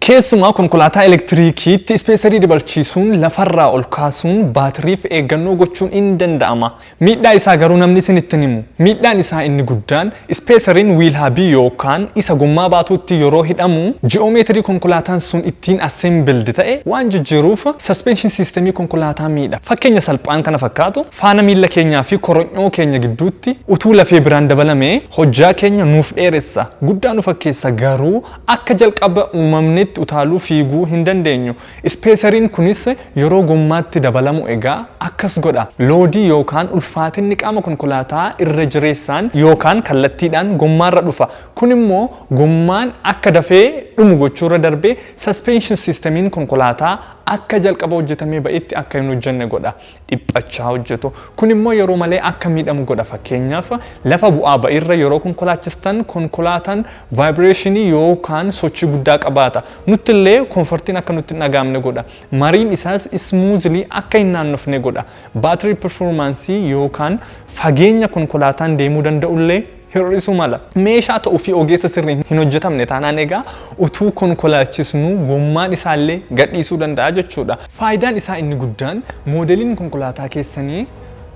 Keessumaa konkolaataa elektiriikiitti ispeesarii dabalchiisuun lafarraa ol kaasuun baatiriif eeggannoo gochuun in danda'ama. Miidhaa isaa garuu namni isin ittin himu. Miidhaan isaa inni guddaan ispeesariin wiil habii yookaan isa gommaa baatuutti yeroo hidhamu ji'oomeetirii konkolaataan sun ittiin assembled ta'e waan jijjiiruuf suspension system konkolaataa miidha. Fakkeenya salphaan kana fakkaatu faana miilla keenyaa fi koronyoo keenya gidduutti utuu lafee biraan dabalamee hojjaa keenya nuuf dheeressa, guddaa nu fakkeessa garuu Akka jalqaba uumamniitti utaaluu, fiiguu, hin dandeenyu. Ispeesariin kunis yeroo gommaatti dabalamu egaa akkas godha. Loodii yookaan ulfaatinni qaama konkolaataa irra jireessaan yookaan kallattiidhaan gommaarra dhufa. Kun immoo gommaan akka dafee dhumu gochuurra darbee suspension system'n konkolaataa akka jalqaba hojjetamee ba'etti akka hin hojjenne godha. dhiphachaa hojjetu. Kun immoo yeroo malee akka miidhamu godha. Fakkeenyaaf lafa bu'aa ba'irra yeroo konkolaachistan konkolaataan vaayibireeshinii yookaan sochii guddaa qabaata. Nutti illee koonfortiin akka nutti hin dhagaamne godha. Mariin isaas ismuuzilii akka hin naannofne godha. Baatirii pirfoormaansii yookaan fageenya konkolaataan deemuu danda'u illee hir'isuu mala. Meeshaa ta'uu fi ogeessa sirriin hin hojjetamne taanaan egaa utuu konkolaachisnuu gommaan isaallee gadhiisuu danda'a jechuudha. Faayidaan isaa inni guddaan moodeliin konkolaataa keessanii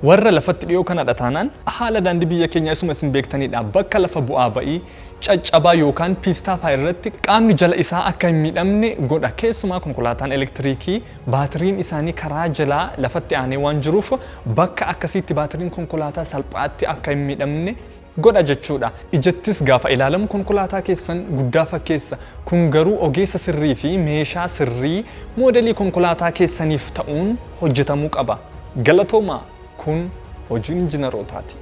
warra lafatti dhiyoo kanadha taanaan haala daandii biyya keenyaa isuma isin beektanidha. Bakka lafa bu'aa ba'ii, caccabaa yookaan piistaa fa'a irratti qaamni jala isaa akka hin miidhamne godha. Keessumaa konkolaataan elektiriikii Baatiriin isaanii karaa jalaa lafatti aanee waan jiruuf bakka akkasiitti baatiriin konkolaataa salphaatti akka hin miidhamne godha jechuudha. Ijattis gaafa ilaalamu konkolaataa keessan guddaa fakkeessa. Kun garuu ogeessa sirrii fi meeshaa sirrii moodelii konkolaataa keessaniif ta'uun hojjetamuu qaba. Galatoomaa! Kun hojiin injinarootaati.